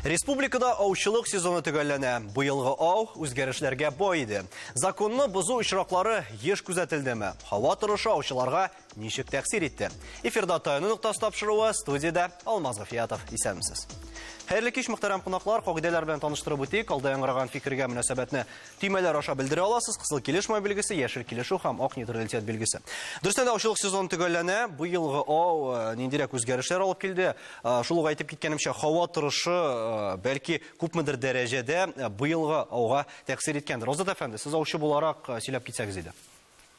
Республикада аучылык сезоны төгәлләнә. Бу елгы ау үзгәрешләргә бай иде. Законны бозу очраклары еш күзәтелдеме? Һава торышы аучыларга Ничек тәкъсир итте? Эфирда таяну ноктасы тапшыруы, студиядә Алмаз Гафиятов. Исәнмесез. Хәерле кич, мөхтәрәм кунаклар. Кагыйдәләр белән таныштырып үтик. Алда яңгыраган фикергә мөнәсәбәтне төймәләр аша белдерә аласыз. Кызыл килешмә билгесе, яшел килешү һәм ак нейтралитет билгесе. Дөрестән дә аучылык сезоны төгәлләнә. Бу елгы ау э, ниндирәк үзгәрешләр алып килде? Э, шул ук әйтеп киткәнемчә, һава торышы э, бәлки күпмедер дәрәҗәдә бу елгы ауга тәэсир иткәндер. Азат әфәнде, сез аучы буларак сөйләп китсәгез иде.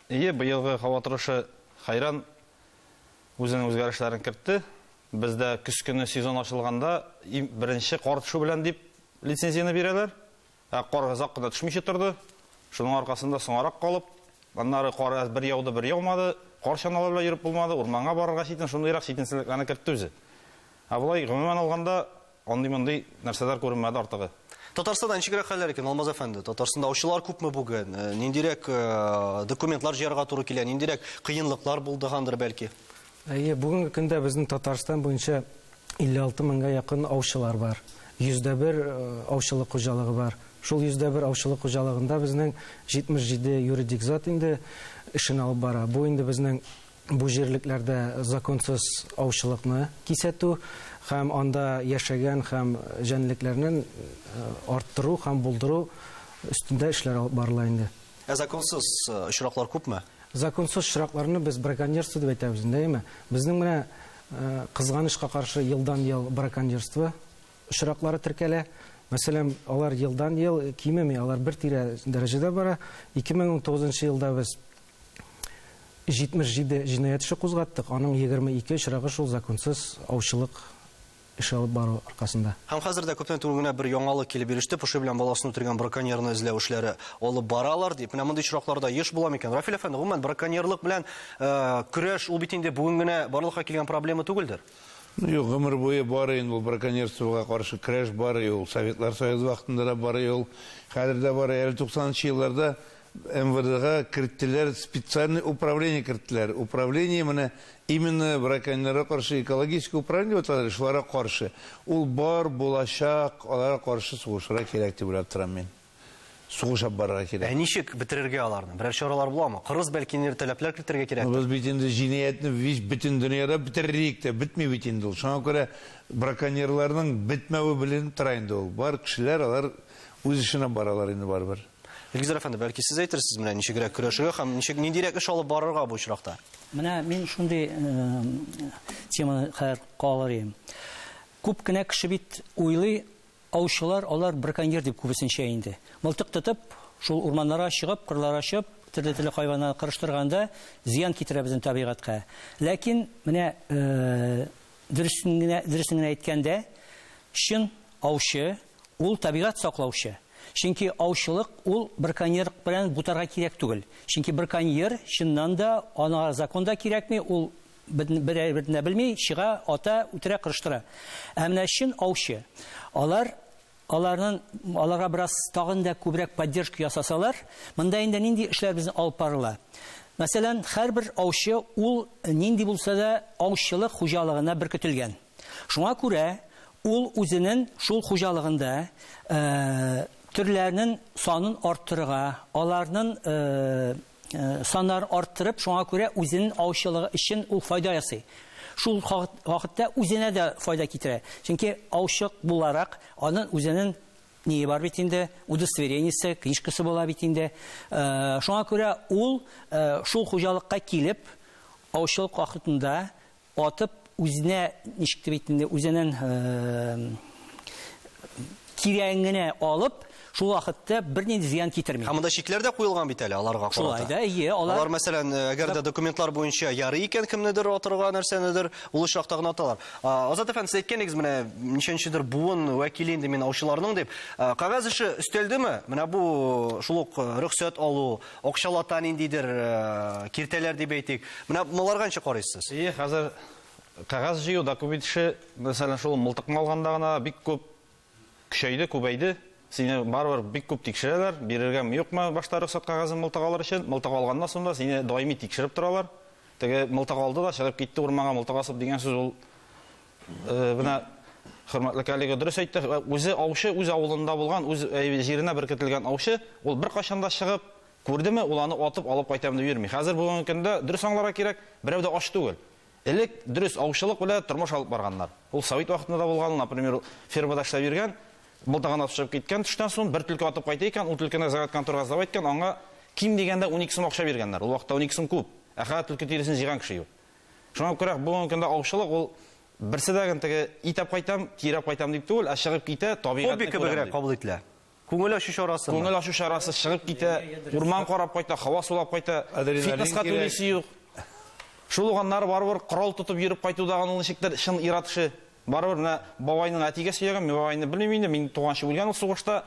Ие, быелгы һава торышы хәйран үзенең үзгәрешләрен кертте. Бездә көз көне сезон ачылганда иң беренче кар төшү белән дип лицензияне бирәләр. Ә кар озак кына төшмичә торды. Шуның аркасында соңарак калып, аннары кар әз бер яуды, бер яумады, кар чаналары белән йөреп булмады, урманга барырга читен, шундыйрак читенсезлекләрне кертте үзе. Ә болай гомумән алганда, Андый-мондый нәрсәләр күренмәде артыгы. Татарстанда ничегрәк хәлләр икән, Алмаз әфәнде? Татарстанда аучылар күпме бүген? Э, ниндирәк э, документлар җыярга туры килә? Ниндирәк кыенлыклар булдыгандыр бәлки? Әйе, бүгенге көндә безнең Татарстан буенча 56 меңгә якын аучылар бар. 101 э, аучылык хуҗалыгы бар. Шул 101 аучылык хуҗалыгында безнең 77 юридик зат инде эшен алып бара. Бу инде безнең бу җирлекләрдә законсыз аучылыкны кисәтү һәм анда яшәгән һәм җәнлекләрнен арттыру һәм булдыру өстендә эшләр алып барыла инде. Ә законсыз очраклар күпме? Законсыз очракларны без браконьерство дип әйтәбез инде, әйеме? Безнең менә кызганычка каршы елдан-ел браконьерство очраклары теркәлә. Мәсәлән, алар елдан-ел кимеми, алар бер тирә дәрәҗәдә бара. 2019 елда без 77 җинаять эше кузгаттык, аның егерме ике очрагы шул законсыз аучылык эше алып бару аркасында. Һәм хәзер дә күптән түгел генә бер яңалык килеп иреште, поши белән баласын үтергән браконьерны эзләү эшләре алып баралар, дип. Менә мондый очракларда еш була микән? Рафил әфәнде, гомумән, браконьерлык белән көрәш, ул бит инде бүген генә барлыкка килгән проблема түгелдер? Ну, юк, гомер буе бар инде ул браконьерствога каршы көрәш бар, и ул Советлар Союзы вакытында да бар, и ул хәзер дә бар. Әле туксанынчы елларда МВДга керттеләр, специальный управление керттеләр. Управление менә именно браконьерларга каршы экологическое управление дип аталар, шуларга каршы. Ул бар, булачак, аларга каршы сугышырга кирәк дип уйлап торам мин. Сугыш алып барырга кирәк. Ә ничек бетерергә аларны? Берәр чаралар буламы? Кырыс бәлки ниндидер таләпләр кертергә кирәктер? Без бит инде җинаятьне вич бөтен дөньяда бетерерлек тә, бетми бит инде ул. Шуңа күрә браконьерларның бетмәве беленеп тора инде ул. Бар кешеләр алар үз эшенә баралар инде барыбер. Илгизәр әфәнде, бәлки сез әйтерсез менә ничегрәк көрәшергә һәм ничек ниндирәк эш алып барырга бу очракта? Менә мин шундый теманы хәзер калыр идем. Күп кенә кеше бит уйлый, аучылар алар браконьер дип күбесенчә инде. Мылтык тотып, шул урманнарга чыгып, кырларга чыгып, төрле-төрле хайваннарны кырыштырганда зыян китерә безнең табигатькә. Ләкин менә дөресен генә дөресен генә әйткәндә, чын аучы, Ул табигать саклаучы, чөнки аучылык ул браконьерлык белән бутарга кирәк түгел, чөнки браконьер, чыннан да, аңа закон да кирәкми, ул берәйберне дә белми, чыга, ата, үтерә, кырыштыра. Ә менә чын аучы, алар, аларнын, аларга бераз тагын да күбрәк поддержка ясасалар, монда инде нинди эшләр безнең алып барыла? Мәсәлән, һәрбер аучы ул нинди булса да аучылык хуҗалыгына беркетелгән. Шуңа күрә ул үзенен шул хуҗалыгында төрләрнен санын арттырырга, аларнын саннарын арттырып, шуңа күрә үзенен аучылыгы өчен ул файда ясый. Шул вакытта үзенә дә файда китерә. Чөнки аучы буларак анын үзенен ние бар бит инде, удостоверениесе, книжкасы була бит инде. Шуңа күрә ул шул хуҗалыкка килеп, аучылык вакытында Атып үзенә ничек дип әйтим инде, үзеннән кирәген генә алып, шул вакытта бернинди зыян китерми. Һәм монда чикләр дә куелган бит әле аларга карата. Шулай да, ие, алар... Алар, мәсәлән, э, әгәр дә документлар буенча ярый икән кемнедер атырга, нәрсәнедер, ул очракта гына аталар. Азат әфәнде, сез әйткәнегез менә ничәнчедер буын вәкиле инде мин аучыларның дип. Кагаз эше өстәлдеме? Менә бу шул ук э, рөхсәт алу, Акчалата ниндидер киртәләр дип әйтик. Менә маларга ничек карыйсыз? Ие, хәзер кәгазь җыю, документ эше, мәсәлән, шул мылтыкны алганда гына бик күп көчәйде, күбәйде. Сине барыбер бик күп тикшерәләр, бирергәме, юкмы башта рөхсәт кәгазен мылтык алыр өчен. Мылтык алганнан соң да сине даими тикшереп торалар. Теге мылтык алды да чыгып китте урманга мылтык асып дигән сүз ул Менә хөрмәтле коллега дөрес әйтте, үзе аучы, үз авылында булган, үз җиренә беркетелгән аучы, ул беркайчан да чыгып, күрдеме, ул аны атып алып кайтам дип йөрми. Хәзер бүгенге көндә дөрес аңларга кирәк, берәү дә ач түгел. Элек дөрес аучылык белән тормыш алып барганнар. Ул совет вакытында да булган, например, фермада эшләп йөргән, былтыгына төшеп киткән төштән соң бер түлке атып кайта икән, ул түлкене загат конторга сдавать иткән, аңа ким дигәндә 12 сум акча биргәннәр. Ул вакытта 12 сум күп. Ә хәзер түлке тиресен җыйган кеше юк. Шуңа күрә бүгенге көндә аучылык ул берсе дә генә теге итәп кайтам, кирәп кайтам дип түгел, ә чыгып китә, табигатьне күрәм. Хобби кебегрәк кабул ителә. Күңел ачу чарасы. Күңел ачу чарасы, чыгып китә, урман карап кайта, һава сулап кайта. Фитнеска түлисе юк. Шул ук аннары барыбер корал тотып йөреп кайту да аны ничектер чын ир-ат эше. Барыбер менә бабайның әтигә сөйләгән, мин бабайны белмим инде, минем туганчы үлгән ул сугышта.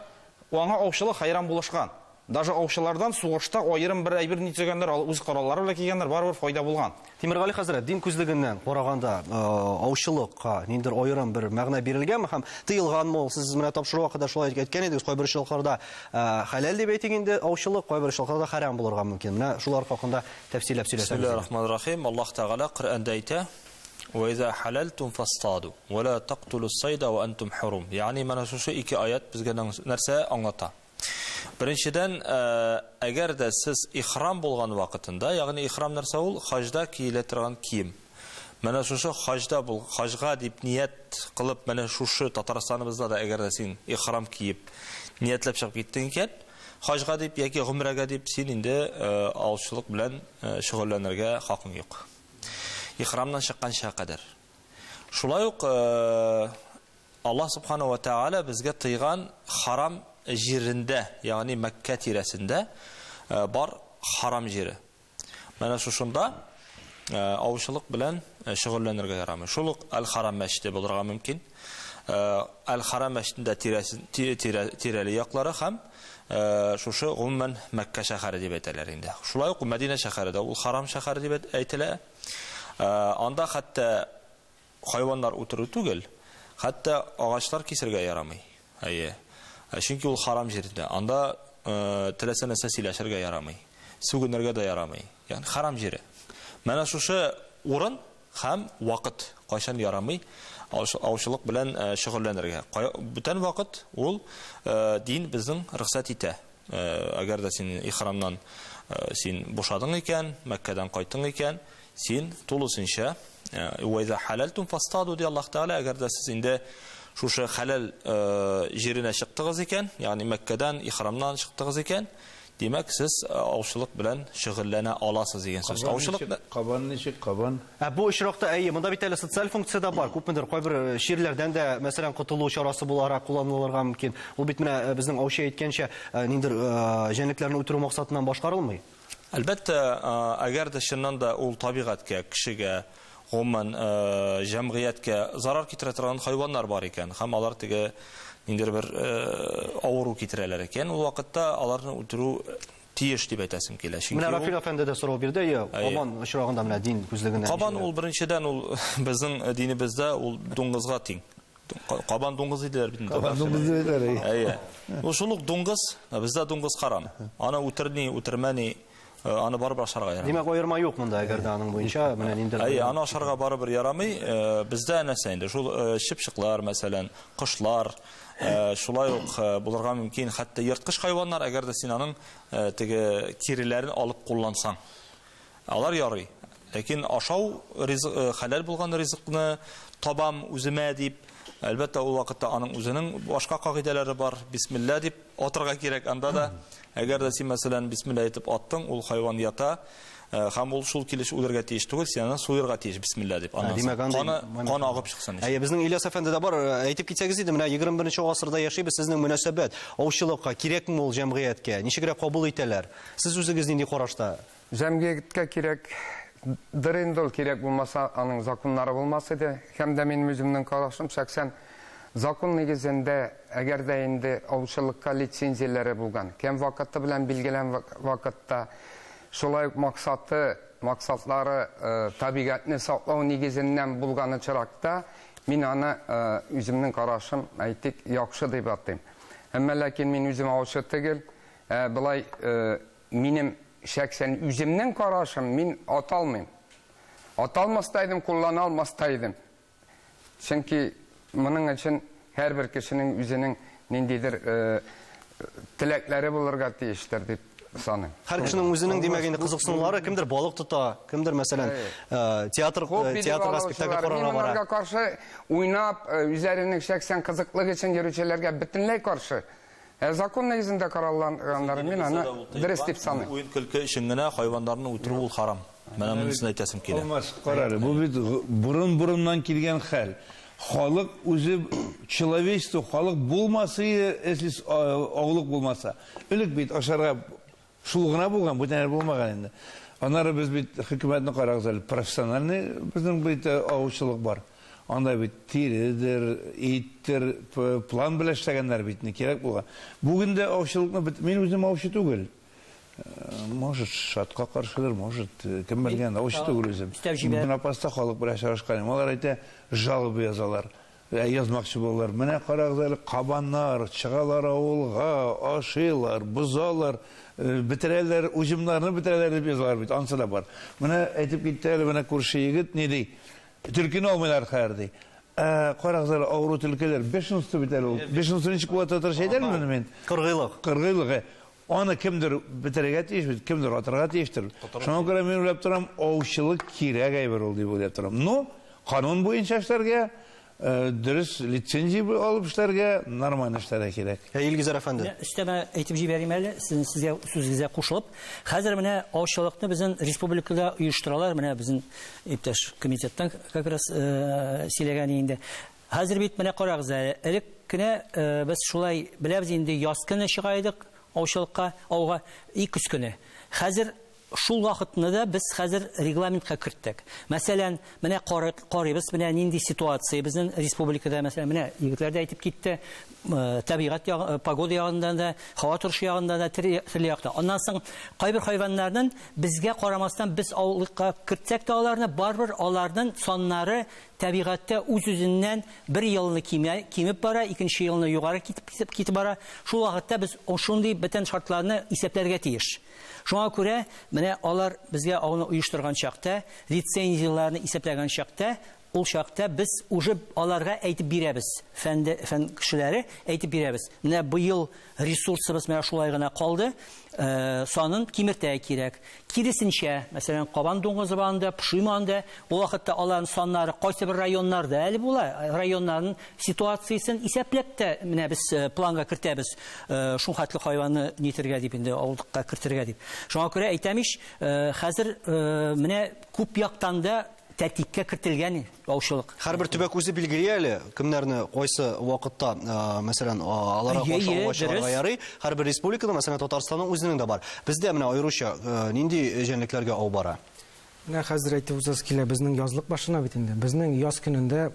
Аңа аучылык хәйран булышкан. Даже аучылардан сугышта аерым бер әйбер ни төзегәннәр, ал үз кораллары белән килгәннәр, барыбер файда булган. Тимергали хәзрәт, дин күзлегеннән караганда, аучылыкка ниндидер аерым бер мәгънә бирелгәнме һәм тыелганмы ул? Сез менә тапшыру вакытында шулай әйткән идегез, кайбер очракларда хәләл дип әйтик инде аучылык, кайбер очракларда хәрам булырга мөмкин. Менә шулар хакында тәфсилләп сөйләсәгез. Бисмиллаһир рахманир рахим. Аллаһ Тәгалә Коръәндә әйтә, Вә иза хәләлтүм фастаду, вә ла тактулус сайда ва антум хурум. Ягъни менә шушы ике аять безгә нәрсә аңлата? Беренчедән, әгәр дә сез ихрам булган вакытында, ягъни ихрам нәрсә ул? Хаҗда киелә торган кием. Менә шушы хаҗда бул, хаҗга дип ният кылып, менә шушы Татарстаныбызда да әгәр дә син ихрам киеп, ниятләп чыгып киттең икән, хаҗга дип яки гомрәгә дип, син инде аучылык белән шөгыльләнергә хакың юк. Ихрамнан чыкканчыга кадәр. Шулай ук Аллаһ Субхана вә Тәгалә безгә тыйган харам җирендә, ягъни Мәккә тирәсендә бар харам җире. Менә шушында авычылык белән шөгыльләнергә ярамый. Шул ук Әл-Харам мәчете булырга мөмкин. Әл-Харам мәчетендә тирәли яклары һәм шушы гомумән Мәккә шәһәре дип әйтәләр инде. Шулай ук Мәдинә шәһәре дә ул харам шәһәре дип әйтелә. Анда хәтта Хайваннар үтерү түгел, хәтта агачлар кисергә ярамый. Әйе. Ә чөнки ул харам җирдә. Анда теләсә нәрсә сөйләшергә ярамый. Сүгенергә дә ярамый. Ягъни харам җире. Менә шушы урын һәм вакыт кайчан ярамый аучылык белән шөгыльләнергә. Бүтән вакыт ул дин безнең рөхсәт итә. Әгәр дә син ихрамнан син бушадың икән, Мәккәдән кайттың икән, син тулысынча уайда хәләлтум фастаду ди Аллаһ Тәгалә, әгәр дә сез инде шушы хәләл җиренә чыктыгыз икән, ягъни Мәккәдән ихрамнан чыктыгыз икән, димәк, сез аучылык белән шөгыльләнә аласыз дигән сүз. Аучылык кабан ничек кабан? Ә бу очракта, әйе, монда бит әле социаль функция дә бар. Күпмедер кайбер э, чирләрдән дә, мәсәлән, котылу чарасы буларак кулланылырга мөмкин. Ул бит менә э, безнең аучы әйткәнчә, э, ниндер җәнлекләрне үтерү максатыннан башкарылмый. Әлбәттә, әгәр дә чыннан да ул табигатькә, кешегә, гомумән, җәмгыятькә зарар китерә торган хайваннар бар икән, һәм алар теге ниндер бер авыру китерәләр икән, ул вакытта аларны үтерү тиеш дип әйтәсем килә. Чөнки Менә Рафил әфәнде дә сорау бирде, әйе, Кабан очрагында менә дин күзлегеннән. Кабан ул беренчедән ул безнең э, динебездә ул дуңгызга тиң. Кабан дуңгыз диделәр бит. Кабан дуңгыз диделәр. Әйе. Ул шул ук дуңгыз, ә бездә дуңгыз каран. Аны үтерни, үтермәни, э, аны барыбер ашарга ярамый. Димәк, аерма юк монда, әгәр дә аның буенча менә ниндер. Әйе, аны ашарга барыбер ярамый. Э, бездә нәрсә инде? Шул чыпчыклар, мәсәлән, кошлар, Э, шулай ук э, булырга мөмкин хәтта ерткыч хайваннар әгәр дә син аның э, теге тиреләрен алып куллансаң алар ярый ләкин ашау ризык хәләл булган ризыкны табам үземә дип әлбәттә ул вакытта аның үзенең башка кагыйдәләре бар бисмилла дип Атырга кирәк анда да. Әгәр дә син, мәсәлән, бисмилла әйтеп аттың, ул хайван ята, э, һәм ул шул килеш үлергә тиеш түгел, син аны суерга тиеш, бисмилла дип. Аннан димәк, соң андый каны, момент каны бар. агып чыксын өчен. Әйе, безнең Ильяс әфәнде дә бар. Э, Әйтеп китсәгез иде, менә 21 гасырда яшибез, сезнең мөнәсәбәт аучылыкка кирәкме ул җәмгыятькә? Ничегрәк кабул итәләр? Сез үзегез нинди карашта? Җәмгыятькә кирәк дыр инде ул, кирәк булмаса, аның законнары булмас иде. Һәм дә минем үземнең карашым шәхсән, закон нигезендә, әгәр дә инде аучылыкка лицензияләре булган, кем вакыты белән билгелән вакытта, шулай ук максаты, максатлары табигатьне саклау нигезеннән булган очракта, мин аны, үземнең карашым, әйтик, яхшы дип атыйм. Әмма ләкин мин үзем аучы тегел, ә болай Минем шәксән үземнең карашым, мин ата алмыйм. Ата алмас та идем, куллана алмас та идем. Чөнки моның өчен һәрбер кешенең үзенең ниндидер теләкләре булырга тиештер дип саныйм. Һәр кешенең үзенең димәк инде кызыксынулары, кемдер балык тота, кемдер мәсәлән театр театрга спектакль карарга бара. Мин монарга каршы уйнап, үзләренең шәксән кызыклык өчен йөрүчеләргә бөтенләй каршы. Ә законнар йөзендә каралганнарын мин аны дөрес дип саныйм. Бу уен-көлке өчен генә хайваннарны үтерү ул харам. Менә монысын әйтәсем килә. Алмас, кара әле, бу бит борын-борыннан килгән хәл. Халык үзе, человечество, халык булмас иде, если аулык булмаса. Элек бит ашарга Шул гына булган, бүтәнәре булмаган инде. Аннары без бит хөкүмәтне карагыз әле, профессиональный безнең бит э, аучылык бар. Анда бит тиредер, иттер, план белән эшләгәннәр бит, не кирәк булган. Бүген дә аучылыкны бит, мин үзем аучы түгел. Э, может, шатка каршыдыр, может, э, кем белгән, аучы түгел үзем. Истәп җибәр. Мин апаста халык белән очрашканым. Алар әйтә, жалобы язалар. Ә язмакчы булалар, менә карагыз әле, кабаннар, чыгалар авылга, ашыйлар, бозалар, бетерәләр, уҗымнарны бетерәләр дип язалар бит, анысы да бар. Менә әйтеп китте әле менә күрше егет, ни ди, Төлкене алмыйлар хәер, ди. Ә карагыз әле, авыру төлкеләр, бешенство бит әле ул. Бешенство ничек була татарча әйтәлмени мин? Кыргыйлык. Кыргыйлык, ә. Аны кемдер бетерергә тиеш бит, кемдер атырга тиештер. Шуңа күрә мин уйлап торам, аучылык кирәк әйбер ул дип уйлап торам. Ну, канун буенча эшләргә, дөрес лицензия алып эшләргә, нормально эшләргә кирәк. Ә Илгизәр әфәнде? Өстәмә әйтеп җибәрим әле, сезнең сезгә сүзегезгә кушылып. Хәзер менә аучылыкны безнең республикада оештыралар, менә безнең иптәш комитеттан как раз сөйләгән инде. Хәзер бит менә карагыз әле, элек кенә без шулай беләбез инде, яз көне чыга идек аучылыкка, ауга, и көз көне. Хәзер шул вакытны да без хәзер регламентка керттек. Мәсәлән, менә карыйбыз, менә нинди ситуация безнең республикада, мәсәлән, менә егетләр дә әйтеп китте, табигать ягы, погода ягыннан да, һава торышы ягыннан да, төрле яктан. Аннан соң кайбер хайваннарның безгә карамастан без аулыкка кертсәк тә аларны, барыбер аларның саннары Тәбигатьтә үз-үзеннән бер елны кимә, кимеп бара, икенче елны югары китеп китеп бара. Шул вакытта без шундый бөтен шартларны исәпләргә тиеш. Шуңа күрә менә алар безгә ауны оештырган чакта, лицензияләрне исәпләгән чакта, ул чакта без уже аларга әйтеп бирәбез, фән кешеләре әйтеп бирәбез, менә быел Ресурсыбыз менә шулай гына калды, санын кимертә кирәк. Киресенчә, мәсәлән, Кабан дуңгызы банда, Пшиманда, ул вакытта аларның саннары кайсы бер районнарда әле була, районнарның ситуациясен исәпләп тә менә без планга кертәбез, шул хәтле хайванны нитергә дип инде, авыллыкка кертергә дип. Шуңа күрә әйтәм ич, хәзер менә күп яктан да Тәртипкә кертелгән яучылык. Һәрбер төбәк үзе билгели әле, кемнәрне кайсы вакытта, мәсәлән, аларга каршы аңлау чыгарырга ярый. Һәрбер республикада, мәсәлән, Татарстанның үзенең дә бар. Бездә менә аеруча нинди җәнлекләргә ау бара? Менә хәзер әйтеп узасы килә, безнең язлык башына бит инде. Безнең яз көнендә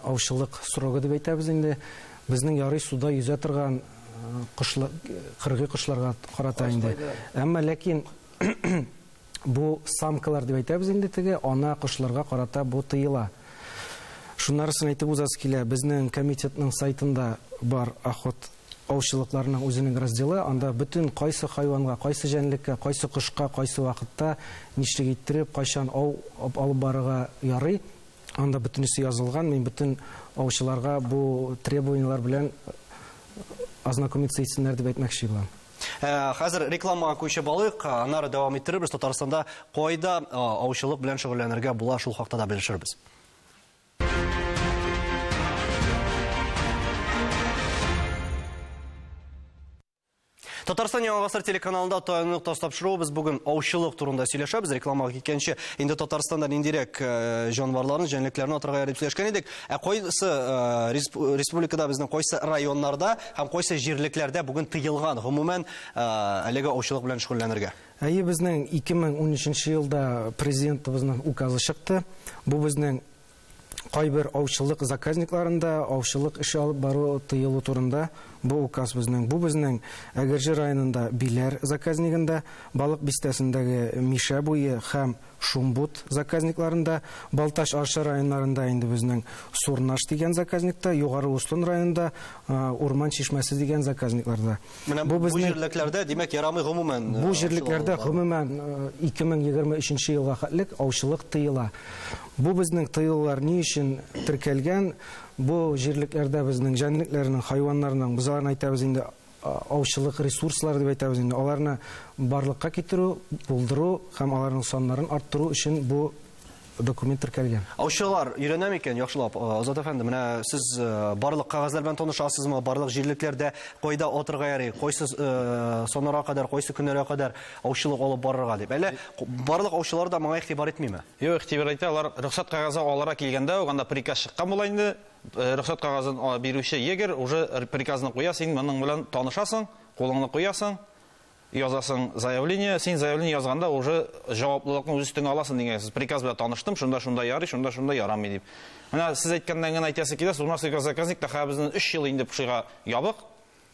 аучылык срогы дип әйтәбез инде. Безнең ярый суда йөзә торган кошлар, кыргый кошларга карата инде. Әмма ләкин бу самкалар дип әйтәбез инде теге ана кошларга карата бу тыела. Шуннарысын әйтеп узасы килә. Безнең комитетның сайтында бар охот аучылыкларының үзенең разделы, анда бөтен кайсы хайванга, кайсы җәнлеккә, кайсы кошка, кайсы вакытта, нишлек иттереп, кайчан ау алып барырга ярый, Анда бөтенесе язылган, мин бөтен аучыларга бу требованиелар белән ознакомиться итсеннәр дип әйтмәкче булам. Э, хәзер рекламага күчеп алыйк, э, аннары дәвам иттерербез. Татарстанда кайда э, аучылык белән шөгыльләнергә була, шул хакта да белешербез. Татарстан Яңа гасыр телеканалында таянлык тас тапшыруыбыз бүген аучылык турында сөйләшәбез. Рекламага киткәнче инде Татарстанда ниндирәк э, җанварларны, җәнлекләрне атырга ярый дип сөйләшкән идек. Ә кайсы э, республикада безнең кайсы районнарда һәм кайсы җирлекләрдә бүген тыелган гомумән э, әлеге аучылык белән шөгыльләнергә? Әйе, безнең 2013 елда президентыбызның указы чыкты. Бу безнең кайбер аучылык заказникларында аучылык эше алып бару тыелу турында бу указ безнең. Бу безнең Әгерҗе районында Биләр заказнигында, Балык бистәсендәге Мишә буе һәм Шумбут заказникларында, Балтач Арча районнарында инде безнең Сурнаш дигән заказникта, Югары Устон районында Урман чишмәсе дигән заказникларда. Менә бу, бу җирлекләрдә, димәк, ярамый гомумән. Э, бу җирлекләрдә гомумән 2023 э, елга хәтлек аучылык тыела. Бу безнең тыюлар ни өчен теркәлгән? Бу җирлекләрдә безнең җәнлекләрнең, хайваннарның, без аларны әйтәбез инде аучылык ресурслары дип әйтәбез инде. Аларны барлыкка китерү, булдыру һәм аларның саннарын арттыру өчен бу документ теркәлгән. Аучылар өйрәнә микән яхшылап? Э, Азат әфәнде, менә сез э, барлык кәгазьләр белән танышасызмы? Барлык җирлекләрдә кайда атырга ярый, кайсы э, санарга кадәр, кайсы көннәргә кадәр аучылык алып барырга дип. Әле барлык аучылар да моңа игътибар итмиме? Юк, игътибар итә. Алар рөхсәт кәгазе алырга килгәндә, уганда приказ чыккан була инде. Рөхсәт кәгазен бирүче егер уже приказны куя, син моның белән танышасың, кулыңны куясың, Язасың заявление, син заявление язганда уже җаваплылыкны үз өстеңә аласың дигән сүз. Приказ белән таныштым, шунда шунда ярый, шунда шунда ярамый дип. Менә сез әйткәннән генә әйтәсе килә, Сурмарский газзаказник та хәзер безнең 3 ел инде пшига ябык.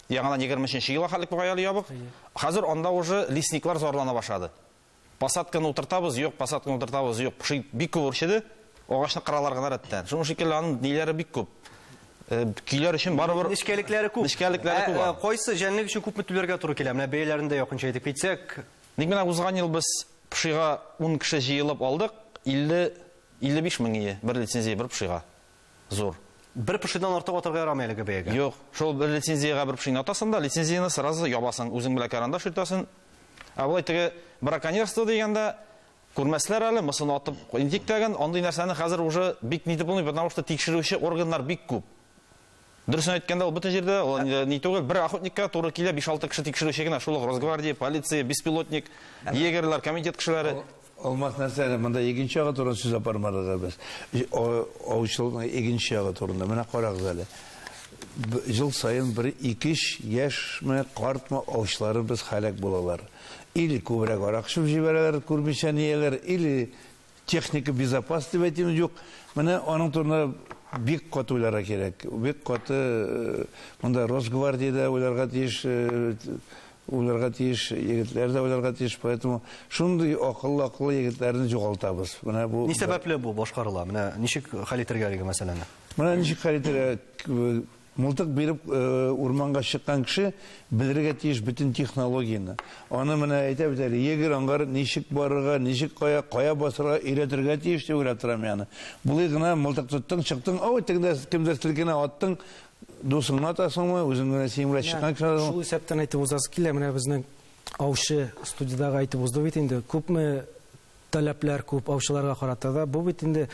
Яңадан 23 нче елга хәтлек бугай әле ябык. Хәзер анда уже лесниклар зарлана башлады. Посадканы утыртабыз, юк, посадканы утыртабыз, юк. Поши бик күп үрчеде. Агачны кыралар гына рәттән. Шуның шикелле аның ниләре бик күп. Э, көйләр өчен барыбер нечкәлекләре күп. Нечкәлекләре ә, күп. Ә, кайсы җәнлек өчен күпме түләргә туры килә? Менә бәяләрен дә якынча әйтеп китсәк. Ник менә узган ел без пшига 10 кеше җыелып алдык, 50 55 мең ие бер лицензия бер пшига. зур. Бер пошидан артык атарга ярамый әлеге бәягә. Юк, шул бер лицензиягә бер пошине атасың да, лицензияне сразу ябасың, үзең белән карандаш йөртәсен. Ә болай теге браконьерство дигәндә күрмәсләр әле, мысын атып интик тәген, андый нәрсәне хәзер уже бик нитеп булмый, потому что тикшерүче органнар бик күп. Дөресен әйткәндә, ул бөтен җирдә, ул инде ни түгел, бер охотникка туры килә, 5-6 кеше тикшерүче генә, шул ук Росгвардия, полиция, беспилотник, егерьләр, комитет кешеләре. Алмас нәрсә әле, монда икенче ягы турында сүз алып бармадык әле без. Аучылыкның икенче ягы турында. Менә карагыз әле. Ел саен бер икеш яшьме, картмы аучыларыбыз һәлак булалар. Или күбрәк арак эчеп җибәрәләр, күрмичә-нияләр, или Техника безопас дип әйтим юк. Менә аның турында бик каты уйларга кирәк. Бик каты э, монда Росгвардиядә уйларга тиеш, э, уйларга тиеш, егетләр дә уйларга тиеш. Поэтому шундый акыллы акыллы егетләрне югалтабыз. Менә бу Ни сәбәпле бу башкарыла? Менә ничек хәл итәргә әлеге мәсьәләне? Менә ничек хәл итәргә Мылтык биреп урманга чыккан кеше белергә тиеш бөтен технологияне. Аны менә әйтә бит әле, егерь аңгар ничек барырга, ничек кая, кая басырга өйрәтергә тиеш дип уйлап торам яны. Болай гына мылтык тоттың, чыктың, ау, тегендә кемдер селкенә, аттың, дусыңны атасыңмы, үзең генә син белән чыккан кеше атасыңмы? Шул исәптән әйтеп узасы килә, менә безнең аучы студиядәге әйтеп узды бит инде, күпме таләпләр күп аучыларга карата да. Бу бит инде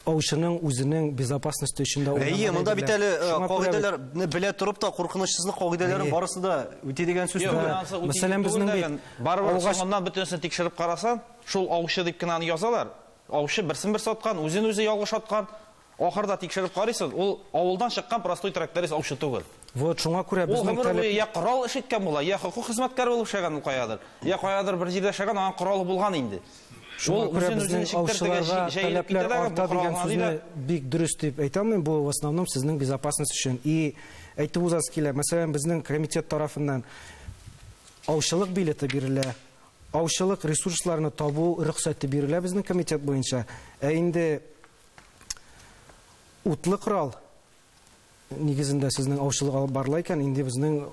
аучының үзенең безопасности өчен дә Әйе, монда бит әле э, кагыйдәләрне белә торып та куркынычсызлык кагыйдәләрен барысы да үти дигән сүз түгел. Мәсәлән, безнең бит барыбер соңыннан бөтенесен тикшереп карасаң, шул аучы дип кенә аны язалар. Аучы берсен берсе аткан, үзен үзе ялгыш аткан. Ахырда тикшереп карыйсыз, ул авылдан чыккан простой тракторист аучы түгел. Вот шуңа күрә Ул безнең гомер таләп... буе йә корал эш иткән була, йә хокук хезмәткәре булып эшләгән ул каядыр. Йә каядыр бер җирдә эшләгән, аның коралы булган инде. Шуңа Ул күрә үзен үзен безнең чиктертергә аучыларга җи- җәелеп таләпләр китә дәгә, бу арта корал дигән гына ди сүзне дә. бик дөрес дип әйтә алмыйм, бу в основном сезнең безопасность өчен. И әйтеп узасы килә, мәсәлән, безнең комитет тарафыннан аучылык билеты бирелә, аучылык ресурсларны табу рөхсәте бирелә безнең комитет буенча. Ә инде Утлы корал нигезендә сезнең аучылык алып барыла икән, инде безнең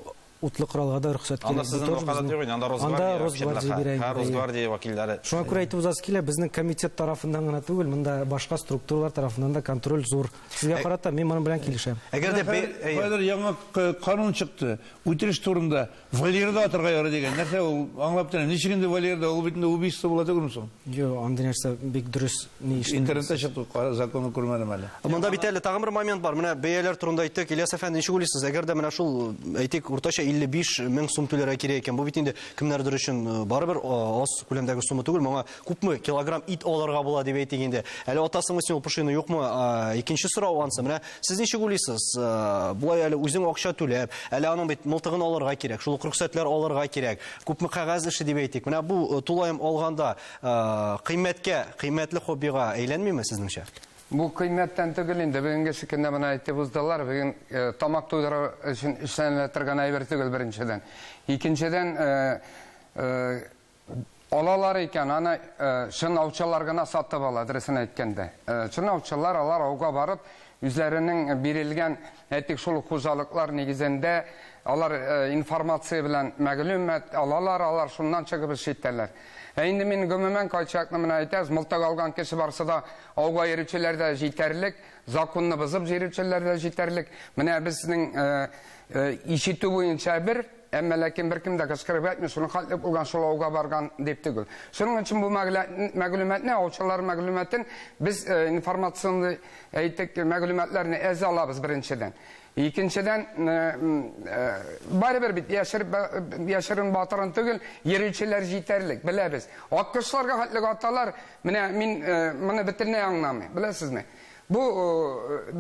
утлы коралга да рөхсәт кирәк. Анда сезнең вәкаләт юк инде, анда Росгвардия вәкилләре. Һәм Росгвардия вәкилләре. Шуңа күрә әйтеп узасы килә, безнең комитет тарафыннан гына түгел, монда башка структуралар тарафыннан да контроль зур. Сезгә карата мин моның белән килешәм. Әгәр дә бер яңа канун чыкты, үтереш турында, Валерда атырга ярый дигән. Нәрсә ул? Аңлап тора. Ничек инде Валерда? Ул бит инде убийство була түгелме соң? Юк, андый нәрсә бик дөрес ни эшләнде. Интернетта чыкты, законы күрмәдем әле. Монда бит әле тагын бер момент бар. Менә бәяләр турында әйттек. Ильяс әфәнде, ничек уйлыйсыз, әгәр дә менә шул, әйтик, уртача 55 мең сум түләргә кирәк икән, бу бит инде кемнәрдер өчен э, барыбер э, аз күләмдәге сумма түгел, моңа Күпме килограмм ит алырга була дип әйтик инде. Әле атасыңмы син ул пошины юкмы? Икенче сорау ансы. Менә сез ничек уйлыйсыз? Болай әле үзең акча түләп, әле аның бит мылтыгын алырга кирәк, шул ук рөхсәтләр алырга кирәк. Күпме кәгазь эше дип әйтик. Менә бу э, тулаем алганда э, кыйммәткә, кыйммәтле хоббига әйләнмиме сезнеңчә? Бу кыйммәттән түгел инде. Бүгенге шикендә моны әйтеп уздылар. Бүген э, тамак туйдыру өчен эшләнелә торган әйбер түгел беренчедән. Икенчедән, Алалар икән, аны чын аучылар гына сатып ала, дөресен әйткәндә. Чын аучылар, алар ауга барып, үзләренең бирелгән, әйтик, шул хуҗалыклар нигезендә, алар информация белән мәгълүмат алалар, алар шуннан чыгып эш итәләр. Ә инде мин гомумән кайтчакны менә әйтәбез, мылтык алган кеше барысы да ауга йөрүчеләр дә җитәрлек, законны бозып җөрүчеләр дә җитәрлек. Менә безнең ишетү буенча бер. Әмма ләкин беркем дә кычкырып әйтми, шуның хәтле булган, шул ауга барган дип түгел. Шуның өчен бу мәгълүматны, аучылар мәгълүматын без э, информационный әйтик мәгълүматларны әз алабыз беренчедән. Икенчедән, э, э, барыбер бит яшерен батырын түгел, йөрүчеләр җитәрлек, беләбез. Аккошларга хәтле аталар, менә мин моны бөтенләй аңламыйм, беләсезме? Бу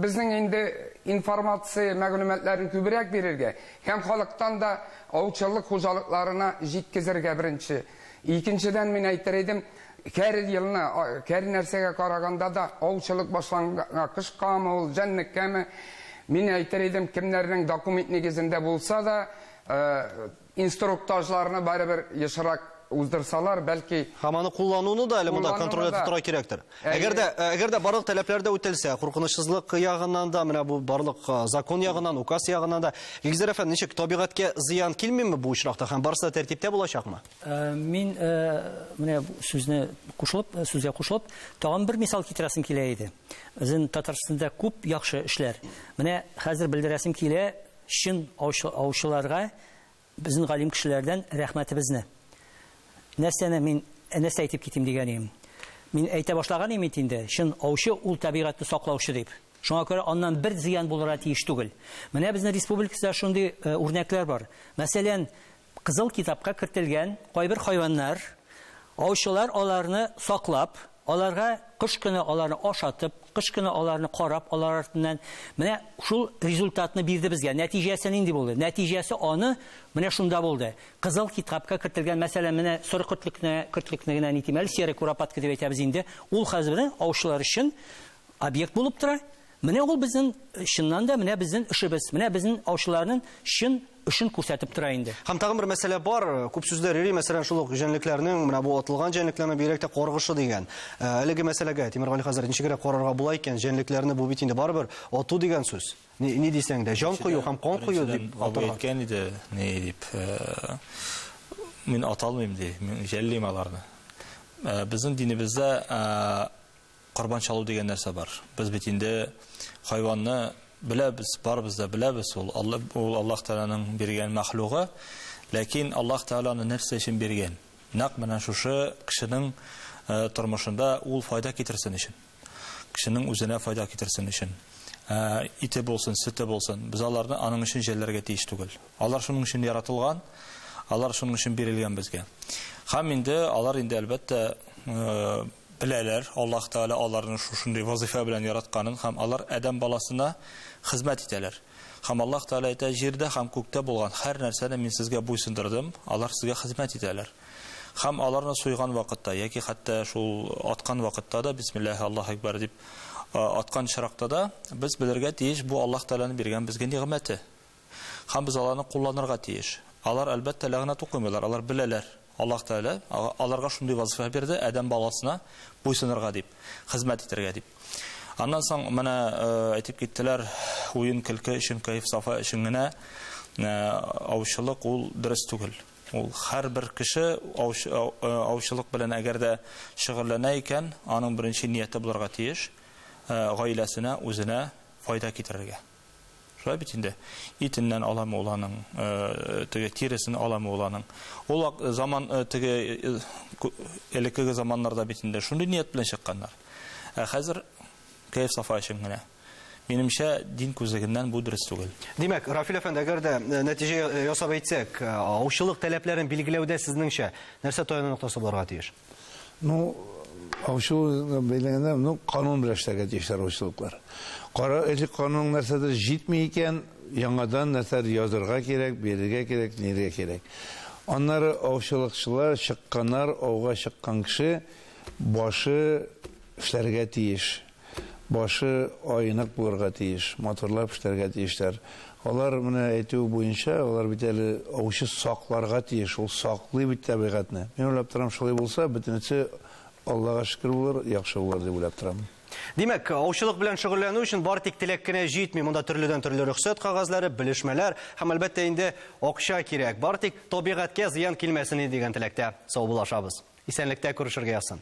безнең инде информация, мәгълүматларны күбрәк бирергә һәм халыктан да аучылык хуҗалыкларына җиткезергә, беренче. Икенчедән, мин әйтер идем, һәр елны, һәр нәрсәгә караганда да, аучылык башланганга, кышкамы ул, җәнлеккәме, мин әйтер идем, кемнәрнең документ нигезендә булса да, Инструктажларны барыбер ешрак уздырсалар, бәлки. Һәм аны куллануны да әле монда контроль итеп тора кирәктер. Әгәр дә, әгәр дә барлык таләпләр дә үтәлсә, куркынычсызлык ягыннан да, менә бу барлык закон ягыннан, указ ягыннан да, Илгизәр әфәнде, ничек, табигатькә зыян килмиме бу очракта һәм барысы да тәртиптә булачакмы? Мин менә сүзне кушылып, сүзгә кушылып, тагын бер мисал китерәсем килә иде. Безнең Татарстанда күп яхшы эшләр. Менә хәзер белдерәсем килә, Чын аучыларга безнең галим кешеләрдән рәхмәтебезне. Нәрсәне мин нәрсә әйтеп китим дигән идем. Мин әйтә башлаган идем бит инде, чын аучы ул табигатьне саклаучы дип. Шуңа күрә аннан бер зыян булырга тиеш түгел. Менә безнең республикада шундый үрнәкләр бар. Мәсәлән, Кызыл китапка кертелгән кайбер хайваннар, аучылар аларны саклап, аларга кыш көне аларны ашатып, кыш көне аларны карап, алар артыннан менә шул результатны бирде безгә. Нәтиҗәсе нинди булды? Нәтиҗәсе аны менә шунда булды. Кызыл китапка кертелгән, мәсәлән, менә соры котлекне, котлекне генә нитим әле, серый куропатка дип әйтәбез инде. Ул хәзер аучылар өчен объект булып тора. Менә ул безнең, чыннан да, менә безнең эшебез, менә безнең аучыларның чын эшен күрсәтеп тора инде. Һәм тагын бер мәсьәлә бар, күп сүзләр йөри, мәсәлән, шул ук җәнлекләрнең, менә бу атылган җәнлекләрнең бигрәк тә каргышы дигән. Ә, әлеге мәсьәләгә, Тимергали хәзрәт, ничегрәк карарга була икән, җәнлекләрне бу бит инде барыбер ату дигән сүз. Ни, ни дисәң дә, җан кую һәм кан кую дип атырга. Абый әйткән иде, ни дип, мин аталмыйм, ди, мин җәллим аларны. Безнең динебездә, Корбан чалу дигән нәрсә бар. Без бит инде хайванны беләбез, барыбыз да беләбез, ул Алла, ул Аллаһ Тәгаләнең биргән мәхлугы. Ләкин Аллаһ Тәгалә аны нәрсә өчен биргән? Нәкъ менә шушы кешенең э, тормышында ул файда китерсен өчен. Кешенең үзенә файда китерсен өчен. Э, ите булсын, сөте булсын. Без аларны аның өчен җәлләргә тиеш түгел. Алар шуның өчен яратылган, алар шуның өчен бирелгән безгә. Һәм инде алар инде әлбәттә э, беләләр, Аллаһ Тәгалә аларны шушындый вазыйфа белән яратканын һәм алар адәм баласына хезмәт итәләр. Һәм Аллаһ Тәгалә әйтә, Җирдә һәм күктә булган һәр нәрсәне Мин сезгә буйсындырдым, алар сезгә хезмәт итәләр. Һәм аларны суйган вакытта, яки хәтта шул аткан вакытта да, бисмиллаһи Аллаһу әкбәр дип аткан очракта да, без белергә тиеш, бу Аллаһ Тәгаләнең биргән безгә нигъмәте. Һәм без аларны кулланырга тиеш. Алар, әлбәттә, ләгънәт укымыйлар, алар беләләр, Аллаһ Тәгалә аларга шундый вазифа бирде, адәм баласына буйсынырга дип, хезмәт итәргә дип. Аннан соң менә әйтеп киттеләр, уен-көлке өчен, кәеф-сафа өчен генә аучылык ул дөрес түгел. Ул һәрбер кеше аучылык белән әгәр дә шөгыльләнә икән, аның беренче нияте булырга тиеш, гаиләсенә, үзенә файда китерергә. Шулай бит инде. Итеннән аламы ул аның, теге тиресен аламы ул аның. Ул заман теге элеккеге заманнарда бит инде шундый ният белән чыкканнар. Ә хәзер кәеф сафа өчен генә. Минемчә, дин күзлегеннән бу дөрес түгел. Димәк, Рафил әфәнде, әгәр дә нәтиҗә ясап әйтсәк, аучылык таләпләрен билгеләүдә сезнеңчә нәрсә таяну ноктасы булырга тиеш? Ну, аучылу бәйләгәндә, ну, канун белән эшләргә тиешләр аучылыклар. Кара, элек канунның нәрсәдер җитми икән, яңадан нәрсәдер язырга кирәк, бирергә кирәк, ниргә кирәк. Аннары аучылыкчылар чыкканнар, ауга чыккан кеше башы эшләргә тиеш. Башы аенык булырга тиеш, матурлап эшләргә тиешләр. Алар менә әйтүе буенча, алар бит әле аучы сакларга тиеш, ул саклый бит тәбигатьне. Мин уйлап торам, шулай булса, бөтенесе, Аллага шөкер, булыр, яхшы булыр дип уйлап торам. Димәк, аучылык белән шөгыльләнү өчен бары тик теләк кенә җитми. Монда төрледән-төрле рөхсәт кәгазьләре, белешмәләр һәм, әлбәттә инде, акча кирәк. Бары тик табигатькә зыян килмәсен иде дигән теләктә саубуллашабыз. Исәнлектә күрешергә язсын!